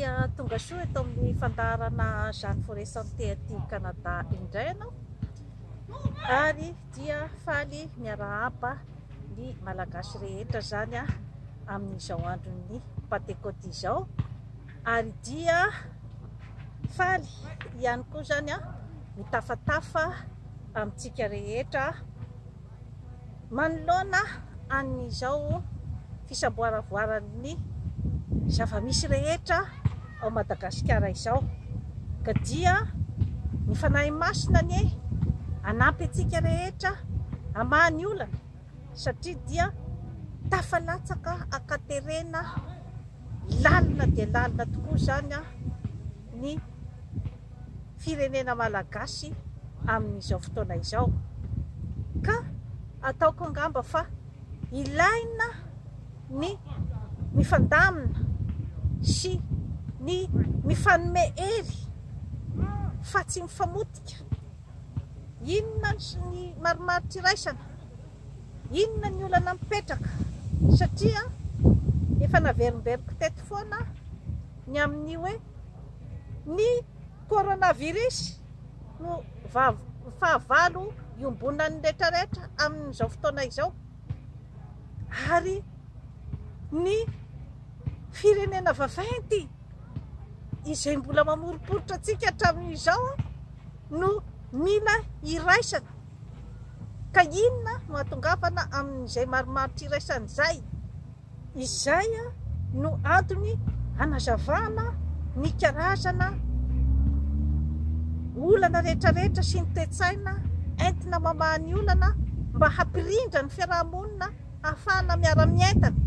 dia tonga soa eto amin'ny fandaharana Jeanne Forêt Santé aty Canada indray ianao ary dia faly miarahaba ny malagasy rehetra izany amin'izao andron'ny Pantekoty izao Ary dia faly ihany koa izany aho ho tafatafa amintsika rehetra manoloana an'izao fisamboaravoaran'ny zava-misy rehetra ao Madagasikara izao, ka dia ny Fanahy Masina anie hanampy antsika rehetra hamaha ny olana. satria dia tafalatsaka ankaterena lalina dia lalina tokoa izany ny firenena malagasy amin'izao fotoana izao ka ataoko angamba fa ilaina ny mifandamina sy ny mifanome hery fa tsy mifamotika. Inona ny marimaritra iraisana? Inona ny olana mipetraka? Satria efa naverimberiko teto foana ny amin'ny hoe ny coronavirus no fahavalo iombonan'ny rehetra rehetra amin'izao fotoana izao ary ny firenena vaventy izay mbola mamoriporitra antsika hatramin'izao no mila iraisana. Ka inona no atongavana amin'izay maromaro tsy iraisana izay? Izay no antony hanazavana ny karazana olana rehetrarehetra sy ny toe-tsaina entina mamaha ny olana mba hampirindra ny fiaraha-monina hahafahana miara-mientana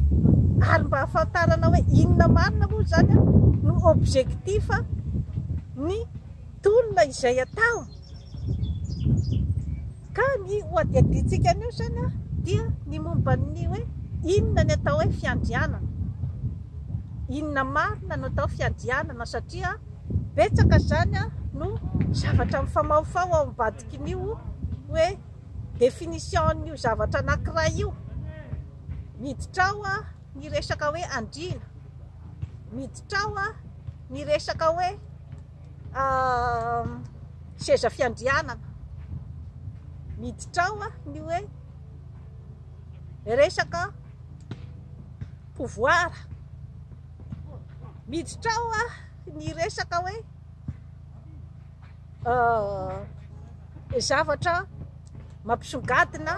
ary mba hahafantarana hoe inona marina moa izany no objectif ny Tolona izay atao ka ny hohadihadiantsika anio izany dia ny momba ny hoe inona ny atao hoe fiandrianana, inona marina no atao fiandrianana satria betsaka izany no zavatra mifamahofaho ao ambadikin'io hoe définition an'io zavatra anankiray io, miditra ao ny resaka hoe andriana, miditra ao ny resaka hoe. seza fiandrianana miditra ao ny hoe resaka pouvoir, miditra ao ny resaka hoe zavatra mampisongadina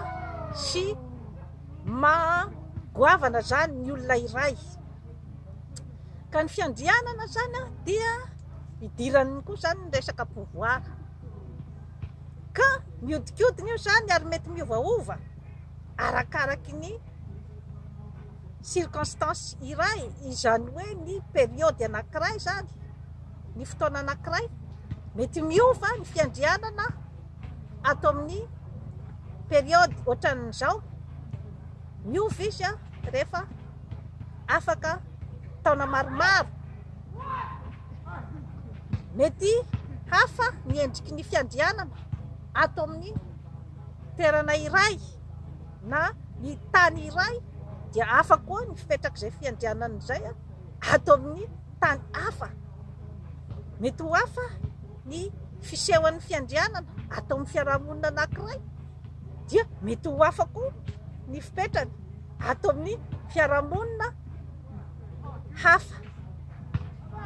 sy maha goavana izany ny olona iray. Ka ny fiandrianana izany dia idiran'ny koa izany ny resaka pouvoir. Ka mihodinkodina io izany ary mety miovaova arakaraky ny circonstance iray, izany hoe ny periode anankiray izany, ny fotoana anankiray, mety miova ny fiandrianana ato amin'ny periode ohatran'izao, miova izy rehefa. afaka taona maromaro. Mety hafa ny endriky ny fiandrianana ato amin'ny toerana iray na ny tany iray dia hafa koa ny fipetrak'izay fiandrianana izay ato amin'ny tany hafa. Mety ho hafa ny fisehon'ny fiandrianana ato amin'ny fiarahamonina anankiray dia mety ho hafa koa ny fipetrany. ato amin'ny fiarahamonina hafa.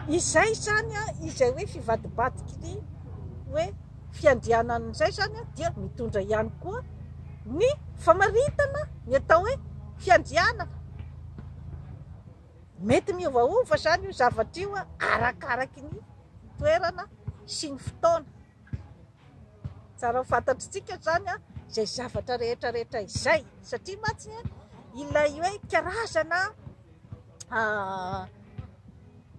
Izay izany izay hoe fivadibadiky ny hoe fiandrianana izay izany dia mitondra ihany koa ny famaritana ny atao hoe fiandrianana. Mety miovaova izany io zavatra io arakaraky ny toerana sy ny fotoana. Tsara ho fantatr'itsika izany izay zavatra rehetra rehetra izay satria mantsy ilay hoe karazana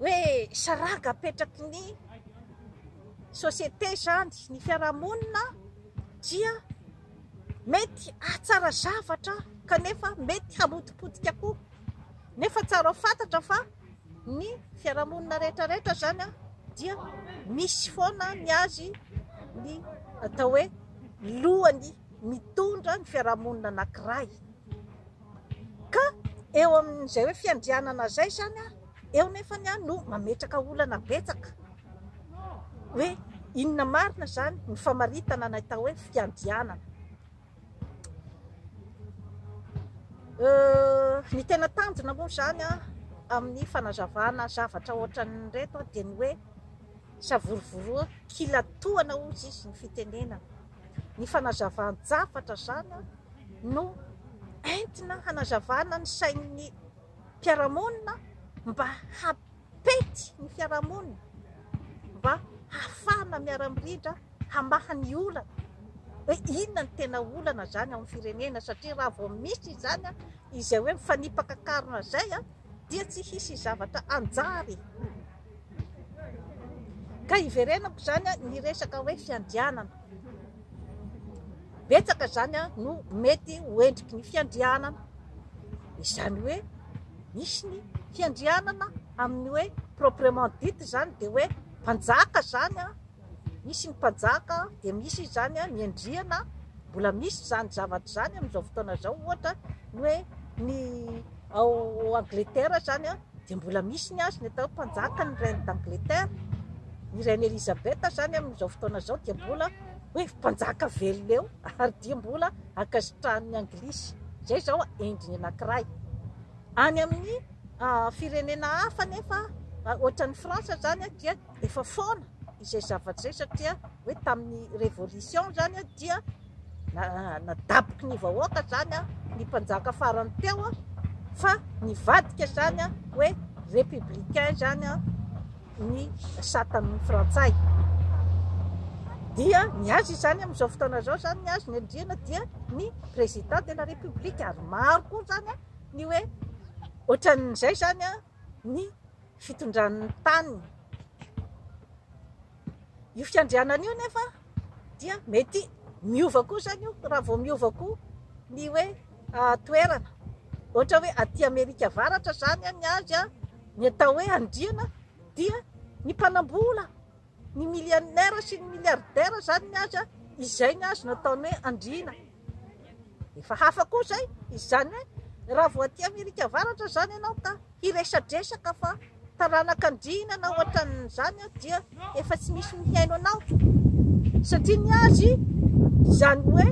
hoe saranga apetraky ny société izany, ny fiarahamonina dia mety hahatsara zavatra kanefa mety hamotipotika koa nefa tsara ho fantatra fa Ny fiarahamonina rehetra rehetra izany an, dia misy foana ny azy ny atao hoe lohany mitondra ny fiarahamonina anankiray, ka eo amin'izay hoe fiandrianana izay izany an, eo nefany an no mametraka olana betsaka, hoe inona marina izany ny famaritana ny atao hoe fiandrianana. Ny tena tanjona moa izany amin'ny fanazavana zavatra ohatran'ireto dia ny hoe savorovoroana, kilatoana hozy izy ny fitenenana. Ny fanazavan-javatra izany no entina hanazavana ny sain'ny mpiara-monina mba pejy ny fiarahamonina mba hahafahana miara-miridra hamaha ny olana hoe inona ny tena olana izany ao amin'ny firenena satria raha vao misy izany izay hoe mifanipaka an-karona izay dia tsy hisy zavatra hanjary. Ka iverenako izany ny resaka hoe fiandrianana. betsaka izany no mety ho endriky ny fiandrianana, izany hoe misy ny fiandrianana amin'ny hoe proprement dite izany dia hoe mpanjaka izany, misy ny mpanjaka dia misy izany ny andriana, mbola misy izany zavatra izany amin'izao fotoana izao ohatra ny hoe ny ao Angletera izany. Dia mbola misy ny azy, ny atao hoe mpanjaka, ny reine d'Angleterre, i reine Elisabeth izany amin'izao fotoana izao dia mbola hoe mpanjaka velona eo ary dia mbola ankasitrahan'ny anglisy. Izay izao endriny anankiray. Any amin'ny uh, firenena hafa nefa uh, ohatran'ny France izany dia efa foana izay zavatra izay satria hoe tamin'ny révolution izany dia Nadaboky ny vahoaka izany ny mpanjaka farany teo fa nivadika izany hoe républicain izany ny satan'ny frantsay. Dia ny azy izany amin'izao fotoana izao izany ny azy ny andriana dia ny président de la république ary maro koa izany ny hoe ohatran'izay izany ny fitondran'ny tany. Io fiandrianana io nefa dia mety miova koa izany io raha vao miova koa ny hoe toerana. Ohatra hoe aty Amerika Avaratra izany ny azy a, ny atao hoe andriana dia ny mpanambola, ny millionnaire sy ny milliardaire izany ny azy a, izay ny azy no ataony hoe andriana. Efa hafa koa izay, izany hoe raha vao aty Amerika Avaratra izany ianao ka hiresadresaka fa taranaka andriana na ohatran'izany dia efa tsy misy mihaino anao satria ny azy izany hoe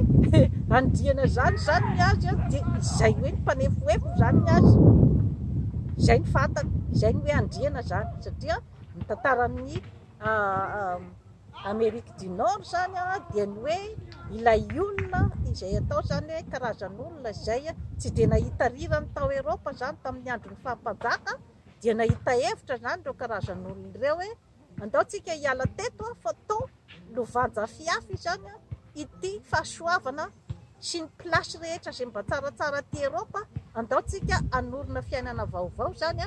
andriana izany izany ny azy dia izay hoe ny mpanefoefo izany ny azy izay ny fantany izay ny hoe andriana izany satria ny tantaran'ny Amerique du Nord zany dia ny hoe ilay olona izay atao zany hoe karazan'olona izay tsy dia nahita rirany tao Eropa zany tamin'ny andron'ny fahampanjaka dia nahita hevitra zany ireo karazan'olona ireo hoe andao tsika hiala teto fa tao lovanjafy hafa izany ity fahasoavana sy ny place rehetra izay mba tsaratsara aty Eropa, andao tsika hanorina fiainana vaovao izany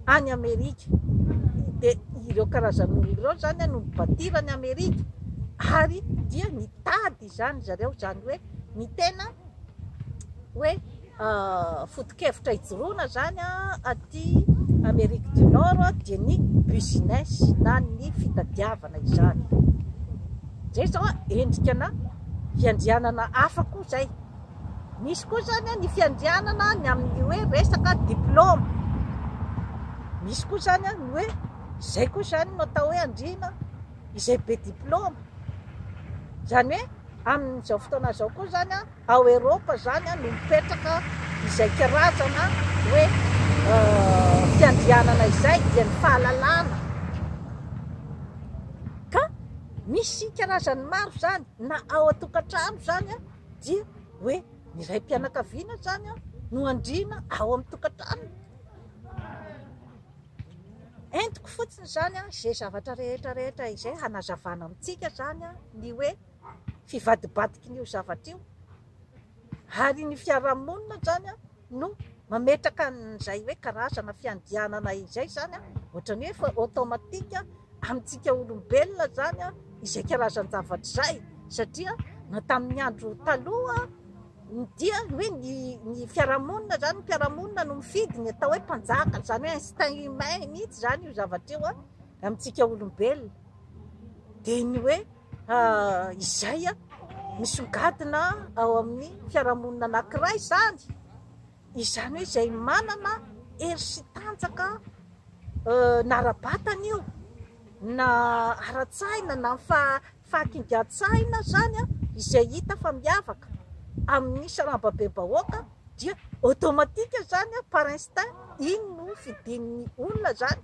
any Amerika, dia ireo karazan'olona ireo izany no ni-bâtir an'i Amerika ary dia nitady izany zareo, izany hoe ny tena hoe. foto-kevitra hijoroana izany aty Amerique du Nord dia ny business na ny fitadiavana izany. Izay izao endrikana fiandrianana hafa koa izay. Misy koa izany ny fiandrianana ny amin'ny hoe resaka diplôme. Misy koa izany ny hoe izay koa izany no atao hoe andriana izay be diplôme. Izany hoe amin'izao fotoana izao koa izany Ao Eropa zany no mipetraka izay karazana hoe fiandrianana izay dia ny fahalalana ka misy karazany maro zany na ao an-tokantrano zany dia hoe ny raim-pianakaviana zany no andriana ao amin'ny tokantrano. Entiko fotsiny zany izay zavatra rehetra rehetra izay hanazavana amintsika zany ny hoe fivadibadiky ny io zavatra io ary ny fiarahamonina zany no mametraka an'izay hoe karazana fiandianana izay zany ohatra ny hoe automatique amintsika olombelona zany izay karazan-javatra izay satria na tamin'ny andro taloha dia hoe ny ny fiarahamonina zany ny fiarahamonina no mifidy ny atao hoe mpanjaka zany hoe instinct humain mihitsy zany io zavatra io amintsika olombelona dia ny hoe izay misongadina ao amin'ny fiarahamonina anankiray izany, izany hoe izay manana hery sy tanjaka na ara-batana io na ara-tsaina na fahakingan-tsaina izany izay hita fa miavaka amin'ny sarambabem-bahoaka dia automatique izany par instinct iny no fidin'ny olona izany.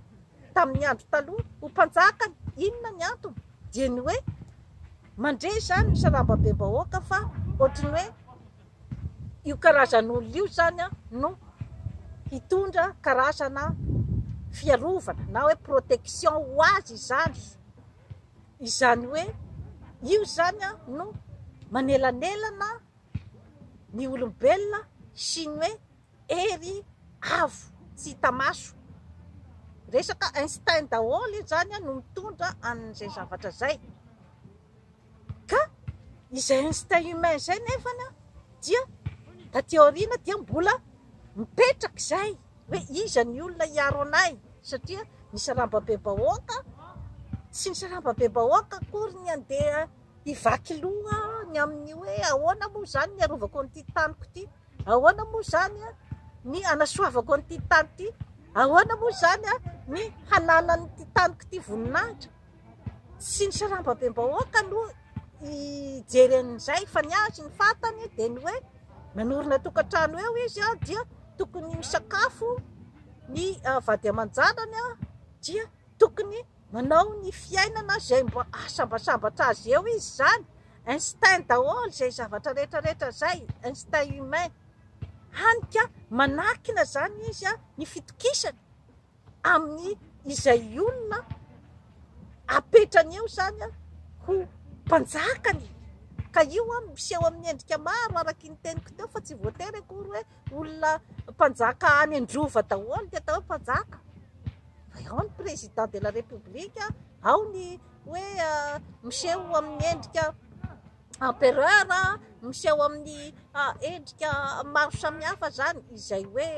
tamin'ny andro taloha ho mpanjakany, inona ny antony? dia ny hoe mandre izany ny sarambabem-bahoaka fa ohatry ny hoe io karazan'olona io izany no hitondra karazana fiarovana na hoe protection ho azy izany, izany hoe io izany no manelanelana ny olombelona sy ny hoe Hery avo tsy hita maso. Resaka Einstein daholo izany no mitondra an'izay zavatra izay. Ka izay Einstein humain izay nefa dia taty aoriana dia mbola mipetraka izay hoe iza ny olona hiaro anay satria ny saramba be bahoaka sy ny saramba be bahoaka akory ny andeha hivaky loha ny amin'ny hoe ahoana moa izany ny arovako an'ity taniko ity. Ahoana moa izany ny hanasoavako an'ity tany ity? Ahoana moa izany ny hananan'ity taniko ity voninahitra? Tsy ny sarambabem-bahoaka aloha hijery an'izay fa ny azy ny fantany dia ny hoe nanorina tokantrano eo izy dia tokony misakafo ny vady aman-janany dia tokony Manao ny fiainana izay mba ahasambatsambatra azy eo izy izany, instinct daholo izay zavatra rehetra rehetra izay, instinct humain, hany ka manakina izany izy ny fitokisany amin'ny izay olona apetrany eo izany ho mpanjakany, ka io miseho amin'ny endrika maro araka ny teniko teo fa tsy voatery akory hoe Olona mpanjaka any an-drova daholo ny atao hoe mpanjaka. Ao ny président de la république, ao ny hoe miseho amin'ny endrika empereur, miseho amin'ny endrika maro samihafa zany izay hoe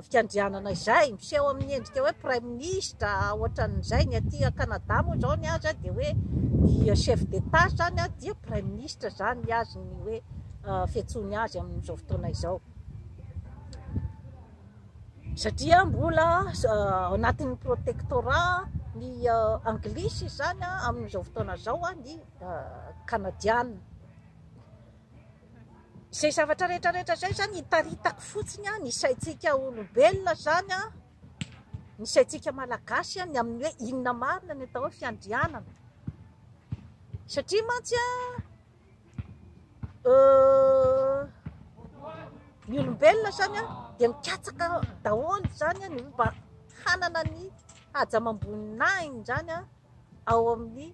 fiandrianana izay, miseho amin'ny endrika hoe praiminisitra ohatran'izay, ny aty Canada moa zao ny azy dia hoe ny chef d'etat zany dia praiminisitra zany ny azy ny hoe. fiantsoany azy amin'izao fotoana izao satria mbola anatin'ny protectorat ny anglisy izany amin'izao fotoana izao a ny kanadiana izay zavatra rehetrarehetra izay zany hitaritako fotsiny a ny saintsika olombelona zany a ny saintsika malagasy a ny amin'ny hoe inona marina ny atao hoe fiandrianana satria mantsy a Ny olombelona izany dia mikatsaka daholo izany ny mba hanana ny haja amam-boninahiny izany ao amin'ny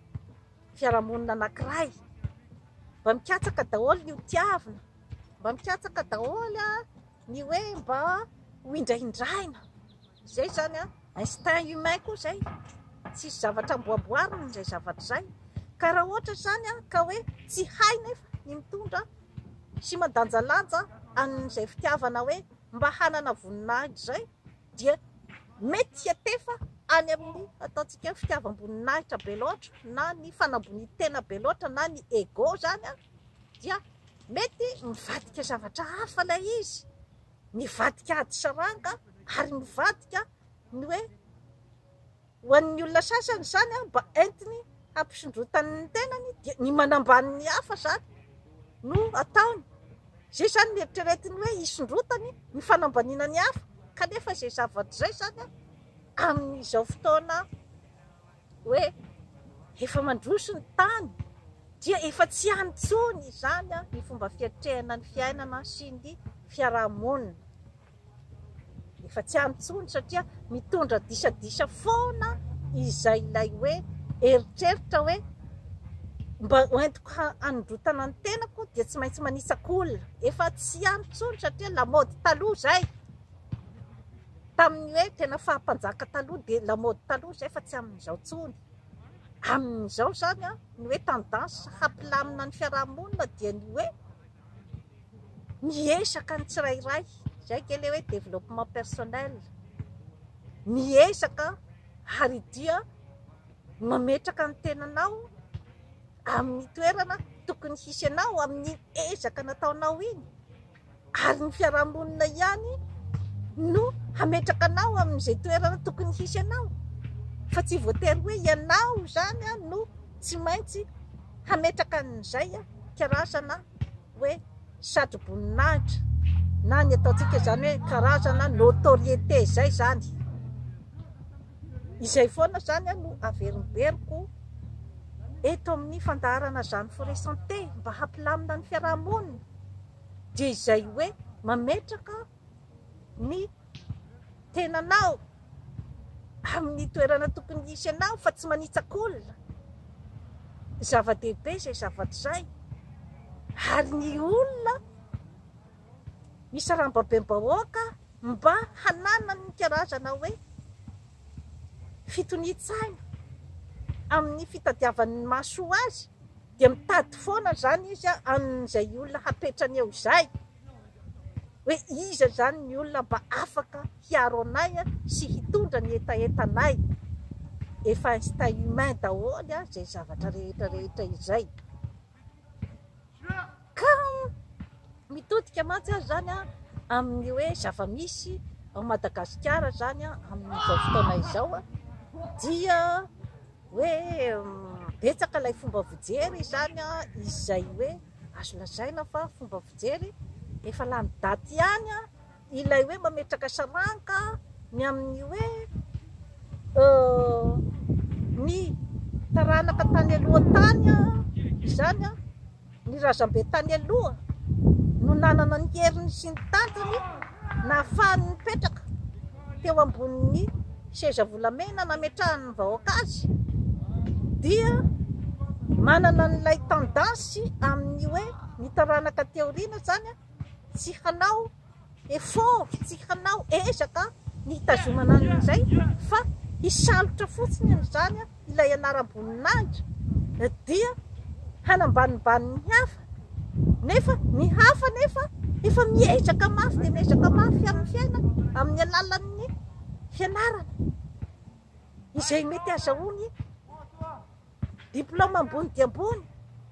fiarahamonina anankiray. Mba mikatsaka daholo ny ho tiavina, mba mikatsaka daholo ny hoe mba ho indrahindraina. Izay izany an, instinct humain koa izay, tsisy zavatra amboamboarina izay zavatra izay, ka raha ohatra izany an, ka hoe tsy hay nefa ny mitondra sy mandanjalanja an'izay fitiavana hoe mba hanana voninahitra izay dia mety hiantefa any amin'ny ataontsika hoe fitiavam-boninahitra be loatra na ny fanambonian-tena be loatra na ny ego izany an, dia mety mivadika zavatra hafa ilay izy Nivadika ady saranga ary mivadika ny hoe ho an'ny olona sasany izany mba entiny hampisondrotany ny tenany dia ny manambany ny hafa izany no ataony. Izay izany no eritreretiny hoe hisondrotany ny fanambaniana ny hafa kanefa izay zavatra izay izany amin'izao fotoana hoe efa mandroso ny tany dia efa tsy any intsony izany ny fomba fiatrehana ny fiainana sy ny fiaraha-monina. Efa tsy any intsony satria mitondra disadisa foana izay ilay hoe eritreritra hoe mba hoentiko hanondrotana ny tenako dia tsy maintsy manitsaka olona. Efa tsy any intsony satria lamaody taloha izay. Tamin'ny hoe tena faha mpanjaka taloha dia lamaody taloha izay fa tsy amin'izao intsony. Amin'izao izany ny hoe tendance hampilamina ny fiaraha-monina dia ny hoe miezaka ny tsirairay, izay ange ilay hoe développement personnel, miezaka ary dia mametraka ny tenanao amin'ny toerana tokony hisy anao amin'ny ezaka nataonao iny. ary ny fiarahamonina ihany no hametraka anao amin'izay toerana tokony hisy anao fa tsy voatery hoe ianao izany no tsy maintsy hametraka an'izay karazana hoe satroboninahitra na ny ataontsika izany hoe karazana notoriété izay izany izay foana izany no averimberiko eto amin'ny fandaharana izany frais santé mba hampilamina ny fiarahamonina Dia izay hoe mametraka ny tenanao amin'ny toerana tokony hisy anao fa tsy manitsak'olona. Zava-dehibe izay zavatra izay ary ny olona ny sarambabem-bahoaka mba hananany ny karazana hoe fitonian-tsaina amin'ny fitadiavany ny mahasoa azy dia mitady foana izany izy amin'izay olona hapetrany eo izay hoe iza izany ny olona mba afaka hiaro anay sy hitondra ny hetahetanay, efa instinct humain daholo izay zavatra rehetra rehetra izay ka mitodika mantsy aza izany amin'ny hoe zava-misy ao Madagasikara izany amin'izao fotoana izao dia hoe betsaka ilay fomba fijery izany an, izay hoe azo lazaina fa fomba fijery efa lany daty ihany an, ilay hoe mametraka saranka ny amin'ny hoe ny taranaka tany aloha tany an, izany an. Ny razambe tany aloha no nanana ny heriny sy ny tanjony nahafahany nipetraka teo ambonin'ny seza volamena nametrahan'ny vahoaka azy dia manana an'ilay tendance amin'ny hoe ny taranaka aty aoriana izany tsy hanao Effort tsy hanao ezaka ny hitazomana an'izay fa hisalotra fotsiny an'izany ilay anaram-boninahitra dia hanambanimbany ny hafa nefa ny hafa nefa efa miezaka mafy dia miezaka mafy amin'ny fiainany amin'ny alalan'ny fianarana izay mety azahoany Diplaoma ambony dia ambony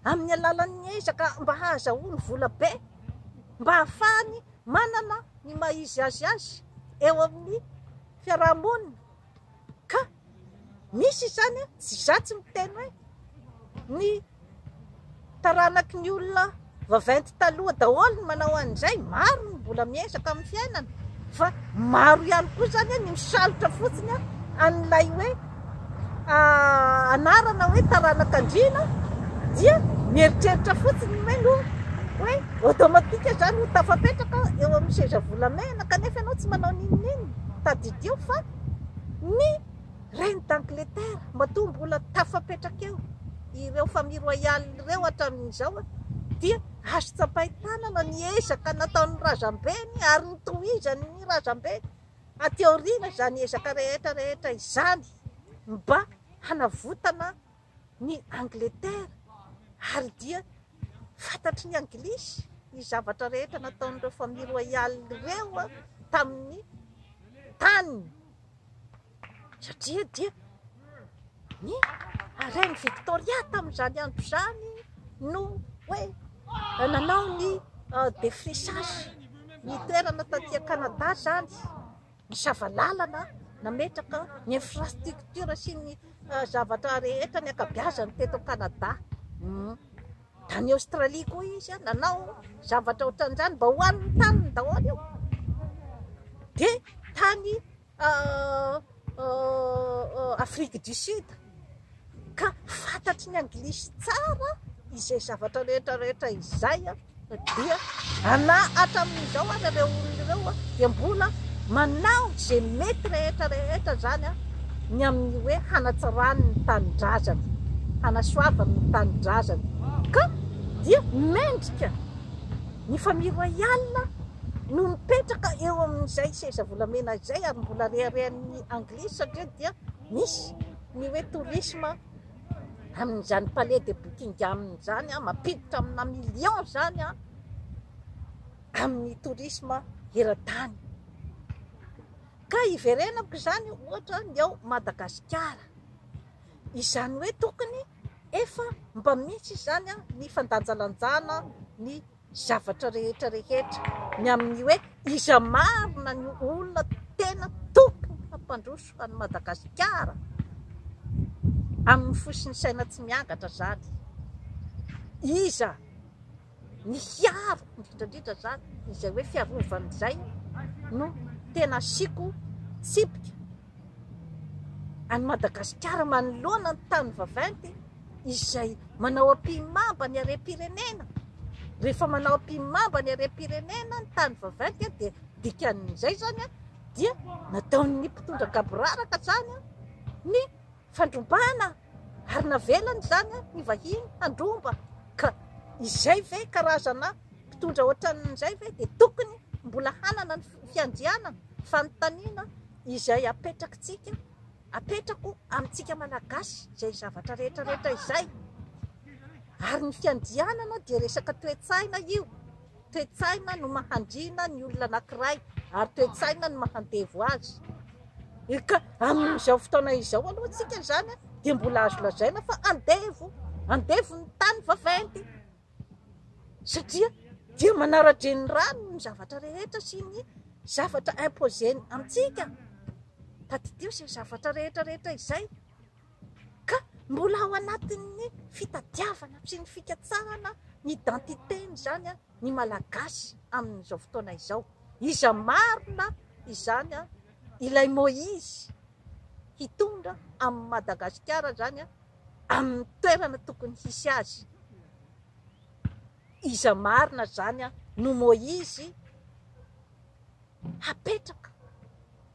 amin'ny alalan'ny ezaka mba hahazahoany vola be mba hahafahany manana ny maha izy azy azy eo amin'ny fiaraha-monina. Ka misy izany tsy za tsy miteny hoe ny taranaky ny olona. Vaventy taloha daholo ny manao an'izay, maro ny mbola miezaka amin'ny fiainana fa maro ihany koa izany ny misalotra fotsiny an'ilay hoe anarana hoe taranak'andriana dia mieritreritra fotsiny hoe no hoe automatique izany ho tafapetraka eo amin'ny seza volamena kanefa ianao tsy manao n'inon'inona, tadidio fa ny Reine d'Angleterre matoa mbola tafapetraka eo ireo Famille Royale ireo hatramin'izao dia azo tsapain-tanana ny ezaka nataon'ny razambeny ary ho tohizan'ny razambeny aty aoriana izany ezaka rehetra rehetra izany mba hanavotana ny Angleterre ary dia fantatry ny Anglisy ny zavatra rehetra nataon'ireo Famille Royale ireo tamin'ny taniny. satria dia ny Reine Victoria tamin'izany andro izany no hoe nanao ny défrichage, ny toerana taty Canada izany, nisava lalana, nametraka ny infrastructure sy ny zavatra rehetra, ny ankabiazany teto Canada. Tany Aostralia koa izy nanao zavatra ohatran'izany mba ho an'ny taniny daholo io. Dia tany Afrique du Sud ka fantatry ny Anglisy tsara izay zavatra rehetra rehetra izay dia ana hatramin'izao ary ireo olona ireo dia mbola manao izay mety rehetra rehetra izany. ny amin'ny hoe hanatsarany ny tanindrazany, hanasoavany ny tanindrazany ka dia mendrika ny Famille Royale no mipetraka eo amin'izay seza volamena izay ary mbola reharehan'ny Anglisy satria dia misy ny hoe tourisme amin'izany Palais de Buckingham izany an, mampiditra amina millions izany an, amin'ny tourisme eran-tany. Ka hiverenako izany ohatra ny ao Madagasikara. Izany hoe tokony efa mba misy izany ny fandanjalanjana ny zavatra rehetra rehetra, ny amin'ny hoe iza marina ny olona tena tokony hampandroso an'i Madagasikara amin'ny fo sy ny saina tsy miangatra izany, iza? ny hiaro indrindra indrindra izany izay hoe fiarovana izay no tena asiako tsipika, an'i Madagasikara manoloana ny tany vaventy izay manao ampihimamba ny harem-pirenena, rehefa manao ampihimamba ny harem-pirenena ny tany vaventy dia dikan'izay izany dia nataon'ny mpitondra gaboraraka izany ny fandrombana ary navelany izany ny vahiny handromba ka izay ve karazana mpitondra ohatran'izay ve dia tokony mbola hanana ny fiandrianana? Fanontaniana izay apetrakitsika, apetrako amintsika Malagasy izay zavatra rehetra rehetra izay ary ny fiandrianana dia resaka toe-tsaina io. Toe-tsaina no mahandrina ny olona anankiray ary toe-tsaina no mahandevo azy. Ka amin'izao fotoana izao aloha antsika izany dia mbola azo lazaina fa andevo, andevo ny tany vaventy satria dia manara-drenirano ny zavatra rehetra sy ny zavatra imposer-ny amintsika. Tadidio izay zavatra rehetra rehetra izay Ka mbola ao anatin'ny fitadiavana sy ny fikatsahana ny identité-ny izany ny Malagasy amin'izao fotoana izao. Iza marina izany ilay Moïse hitondra amin'i Madagasikara izany amin'ny toerana tokony hisy azy? Iza marina zany an no Moizy hapetraka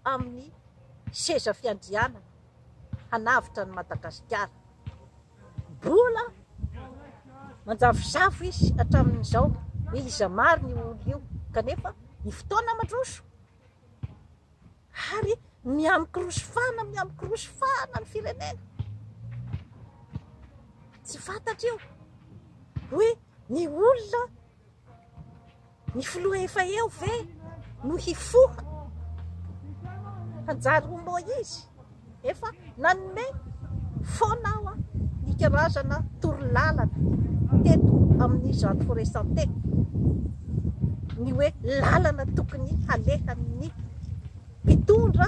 amin'ny seza fiandrianana hanavotra an'i Madagasikara? Mbola manjavozavo izy hatramin'izao hoe iza marina io olo io kanefa ny fotoana mandroso ary miamikorosy fana miamikorosy fana ny firenena tsy fantatra io hoe ny olona ny filoha efa eo ve no hifoha hanjary ho moa izy Efa nanome foana aho ny karazana torolalana teto amin'izany Forêt Santé, ny hoe lalana tokony halehan'ny mpitondra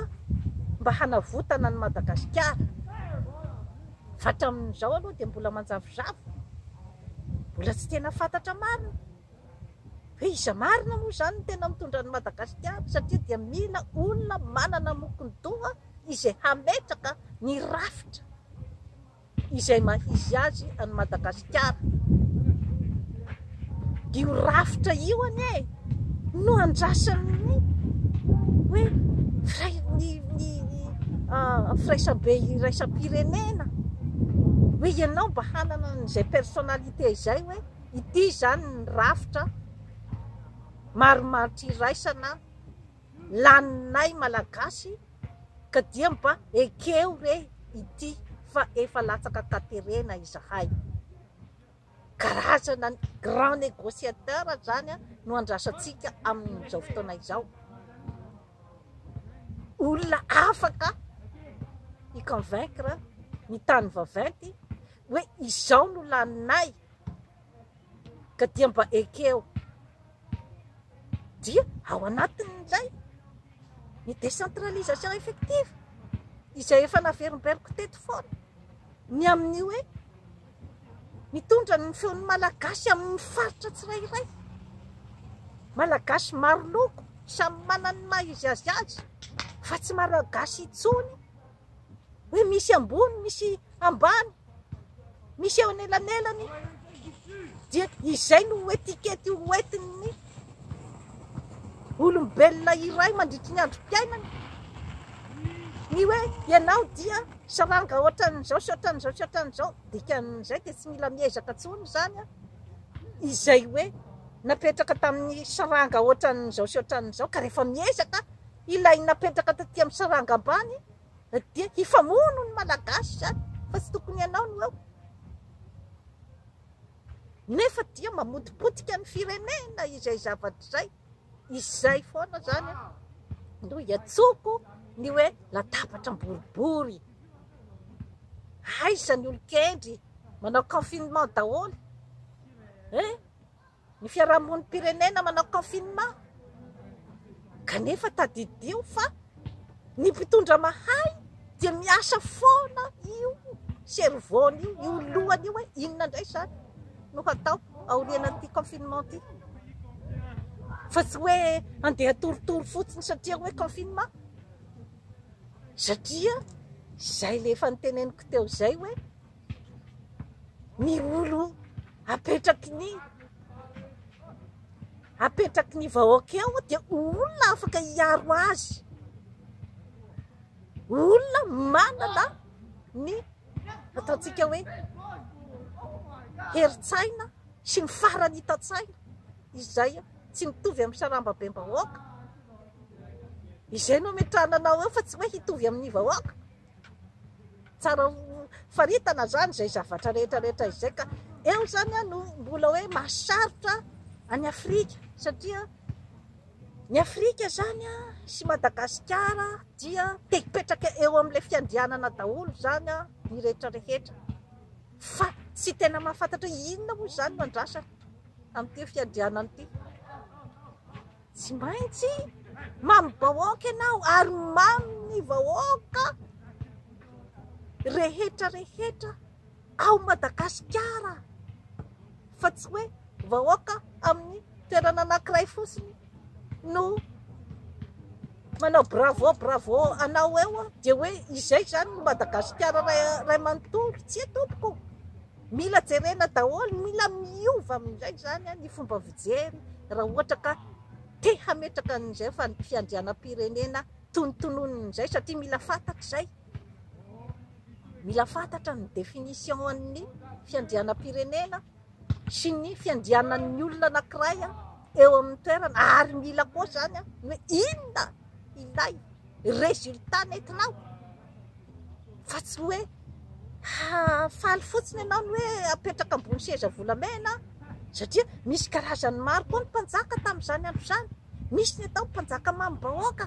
mba hanavotana an'i Madagasikara. Fa hatramin'izao aloha dia mbola manjavozavo, mbola tsy tena fantatra marina. Dia iza marina moa izany no tena mitondra an'i Madagasikara satria dia mila olona manana mokon-doha izay hametraka ny rafitra izay maha-izy azy an'i Madagasikara. Dia io rafitra io anie no andrasan'ny hoe firaisambe iraisam-pirenena hoe ianao mba hanana an'izay personnalité izay hoe. Ity izany ny rafitra marimaritra iraisana laninay Malagasy ka dia mba ekeo re ity fa efa latsaka an-katerena izahay. Karazana grand negociateur izany no andrasantsika amin'izao fotoana izao. Olona afaka hi-convaincre ny tany vaventy hoe izao no laninay. Ka dia mba ekeo dia ao anatin'izay ny décentralisation effective izay efa naverimberiko teto foana ny amin'ny hoe mitondra ny feon'ny malagasy amin'ny faritra tsirairay malagasy maro loko samy manana ny maha izy azy azy fa tsy malagasy intsony hoe misy ambony misy ambany misy eo anelanelany dia izay no etikety ho entin'ny olombelona iray mandritry ny androm-piainany ny hoe ianao dia saranga ohatran'izao sy ohatran'izao sy ohatran'izao dikan'izay dia tsy mila miezaka intsony izany a izay hoe napetraka tamin'ny saranga ohatran'izao sy ohatran'izao ka rehefa miezaka Ilay napetraka taty amin'ny saranga ambany dia hifamono ny Malagasy izany fa tsy tokony ianao no eo. Nefa dia mamotipotika ny firenena izay zavatra izay. Izay foana izany no hiantsoko ny hoe latabatra boribory. Aiza ny olon-kendry manao confinement daholo. Eh? Ny fiarahamonim-pirenena manao confinement kanefa tadidio fa ny mpitondra mahay dia miasa foana io cerveau-ny io, io lohany io hoe inona indray izany no hatao aorianan'ity confinement ity. Fa tsy hoe handeha torotoro fotsiny satria hoe confinement. Satria izay ilay efa noteneniko teo izay hoe ny olo apetraky ny apetraky ny vahoaka eo dia olona afaka hiaro azy olona manana ny ataontsika hoe herin-tsaina sy ny farany hitan-tsaina izay tsy mitovy amin'ny sarambabem-bahoaka izay no ametrahana anao eo fa tsy hoe hitovy amin'ny vahoaka Tsara ho faritana izany izay zavatra rehetra rehetra izay ka eo izany no mbola hoe mahasarotra an'i Afrika satria ny Afrika izany sy Madagasikara dia te hipetraka eo amin'ilay fiandrianana daholo izany ny rehetra rehetra fa tsy tena mahafantatra inona moa izany no andrasana amin'ity fiandrianana ity. Tsy maintsy mamy bahoaka ianao ary mamy ny vahoaka rehetra rehetra ao Madagasikara fa tsy hoe vahoaka amin'ny toerana anankiray fotsiny no manao bravo bravo anao eo dia hoe izay izany Madagasikara ray manontolo, tsia tompoko. Mila jerena daholo, mila miova amin'izay izany ny fomba fijery raha ohatra ka te hametraka an'izay fiandrianam-pirenena tonontononin' izay satria mila fantatra izay, mila fantatra ny définition an'ny fiandrianam-pirenena sy ny fiandrianan'ny olona anankiray eo amin'ny toerana ary mila koa izany hoe inona ilay résultat nentinao? fa tsy hoe hahafaly fotsiny ianao ny hoe apetraka ambony seza volamena satria misy karazany maro koa ny mpanjaka tamin'izany andro izany, nisy ny atao mpanjaka mamim-bahoaka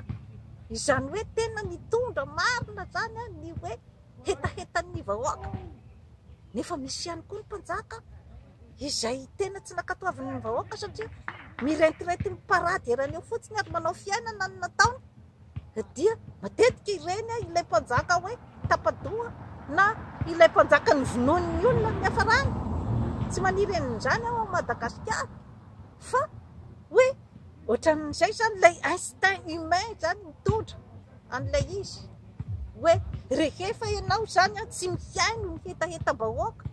izany hoe tena nitondra marina izany ny hoe hetahetan'ny vahoaka nefa misy ihany koa ny mpanjaka izay tena tsy nankatoavin'ny vahoaka satria miretirety miparady eran'io fotsiny ary manao fiainana ny nataony. dia matetika ireny ilay mpanjaka hoe tapa-doha na ilay mpanjaka novonoin'ny olona no niafarany. Tsy maniry an'izany aho ao Madagasikara fa hoe ohatran'izay izany ilay instinct humain izany mitondra an'ilay izy hoe rehefa ianao izany tsy mihaino ny hetahetam-bahoaka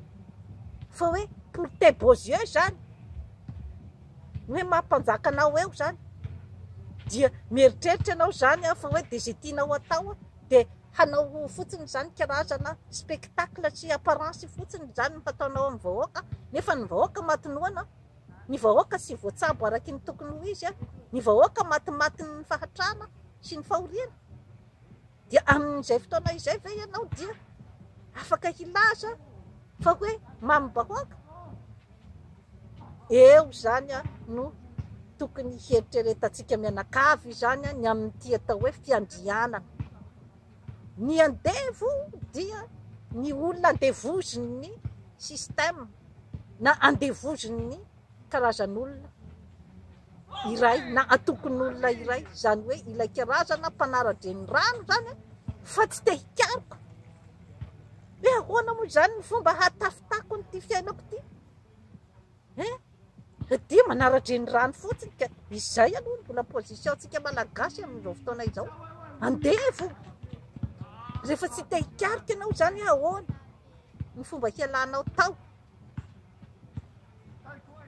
fa hoe pour tes beaux yeux izany ny hoe maha mpanjaka anao eo zany dia mieritreritra ianao zany aho fa hoe de ze tianao atao de hanao fotsiny zany karazana spectacle sy apparence fotsiny zany no hataonao amin'ny vahoaka nefa ny vahoaka maty noana ny vahoaka tsy voatsabo araky ny tokony ho izy ny vahoaka matimatin'ny fahatrana sy ny fahoriana Dia amin'izay fotoana izay ve ianao dia afaka hilaza fa hoe mamim-bahoaka? Eo izany no tokony hieritreretantsika mianakavy izany ny amin'ity atao hoe fiandrianana. Ny andevo dia ny olona andevozin'ny système na andevozin'ny karazan'olona iray na antokon'olona iray, izany hoe ilay karazana mpanara-dre ny rano izany fa tsy te hikaroka hoe ahoana moa izany ny fomba hatafitako an'ity fiainako ity eh? dia manara-dre ny rano fotsiny ka izay aloha ny mbola position antsika malagasy amin'izao fotoana izao andeha e fo rehefa tsy te hikaroka ianao izany ahoana ny fomba hialanao tao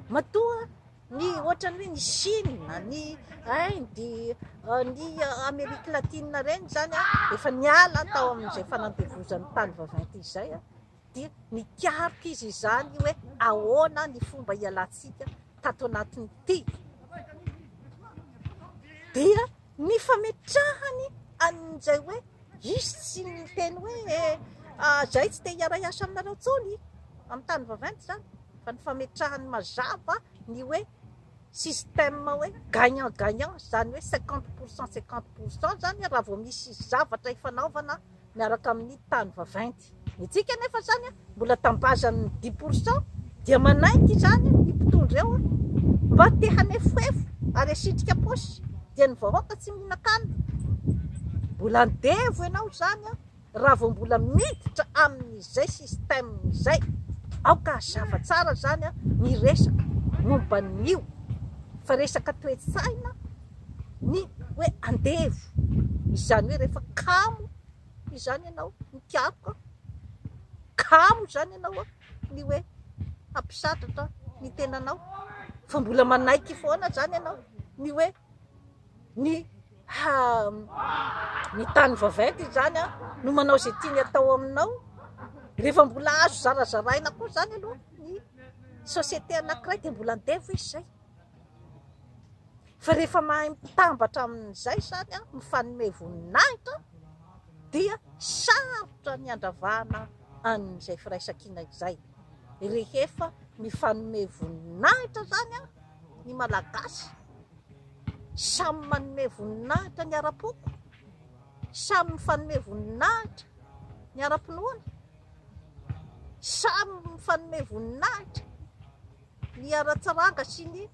Matoa ny ohatrany hoe ny Chine, ny Inde, ny Amerique Latine ireny izany efa niala tao amin'izay fanandevozan'ny tany vaventy izay dia nikaroka izy izany hoe ahoana ny fomba hialantsika tato anatin'ity dia Ny fametrahany an'izay hoe hisy tsy miteny hoe izay tsy te hiaray asa aminareo intsony amin'ny tany vaventy izany fa ny fametrahany mazava ny hoe système hoe gagnant gagnant izany hoe cinquante pour cent cinquante pour cent izany raha vao misy zavatra ifanaovana miaraka amin'ny tany vaventy. Ny antsika anefa izany mbola tambazan'ny dix pour cent dia manaiky izany ny mpitondra eo mba te hanefohefo ary asitrika paosy dia ny vahoaka tsy mihinan-kanina. Mbola andevo ianao izany raha vao mbola miditra amin'izay système izay. Aoka hazava tsara izany ny resaka momba an'io fa resaka toe-tsaina. ny hoe andevo, izany hoe rehefa kamo izany ianao mikaroka, kamo izany ianao ny hoe hampisatratra ny tenanao fa mbola manaiky foana izany ianao ny hoe ny ny tany vaventy izany no manao izay tiany atao aminao, rehefa mbola azo zarazaraina koa izany aloha ny société anankiray dia mbola andevo izy izay. Fa rehefa mahay mitambatra amin'izay izany, mifanome voninahitra, dia sarotra ny handravana an'izay firaisankina izay. Rehefa mifanome voninahitra izany ny Malagasy, samy manome voninahitra ny ara-poko, samy mifanome voninahitra ny ara-pinoana, samy mifanome voninahitra. ny ara-tsaranga sy ny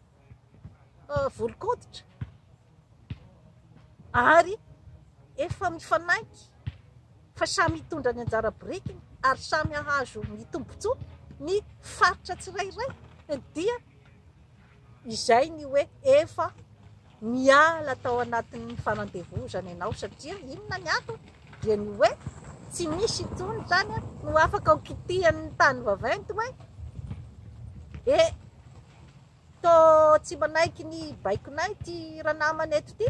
volon-koditra ary efa mifanaiky fa samy hitondra ny anjara birikiny ary samy hahazo ny tombontsoa ny faritra tsirairay dia izay ny hoe efa Niala tao anatin'ny fanandevozana ianao satria inona ny antony? Dia ny hoe tsy misy intsony izany no afaka ho kitihan'ny tany vaventy hoe e to tsy manaiky ny baikonay ty ranamana eto ty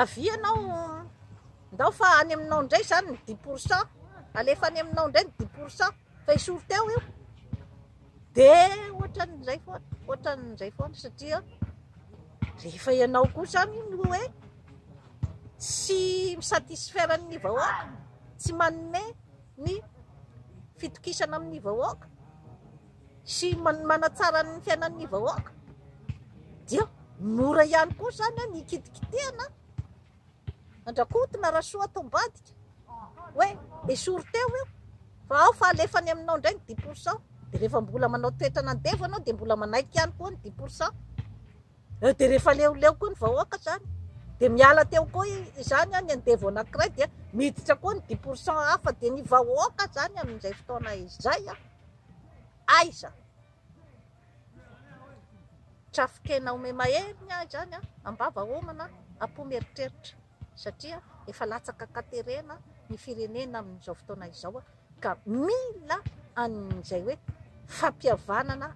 avia anao ndao fa any aminao ndray zany ny dix pourcent alefa any aminao ndray ny dix pourcent fa esory teo io dia ohatran'izay foana ohatran'izay foana satria rehefa ianao koa zany no hoe tsy mi-satisfaire ny vahoaka tsy manome ny fitokisana amin'ny vahoaka sy manatsara ny fiainan'ny vahoaka dia mora ihany koa zany an ny hikitikitihana Andrakotina Rasoa tao ambadika hoe esory teo io fa ao fa alefa any aminao indray ny dix pour cent dia rehefa mbola manao toetra nandevo anao dia mbola manaiky ihany koa ny dix pour cent eo dia rehefa leoleo koa ny vahoaka zany dia miala teo koa izany any andevo anankiray dia miditra koa ny dix pour cent hafa dia ny vahoaka zany amin'izay fotoana izay aiza Trafonkena omey mahery ny ahy izany an! Am-bava homana, am-po mieritreritra satria efa latsaka an-katerena ny firenena amin'izao fotoana izao ka mila an'izay hoe fampihavanana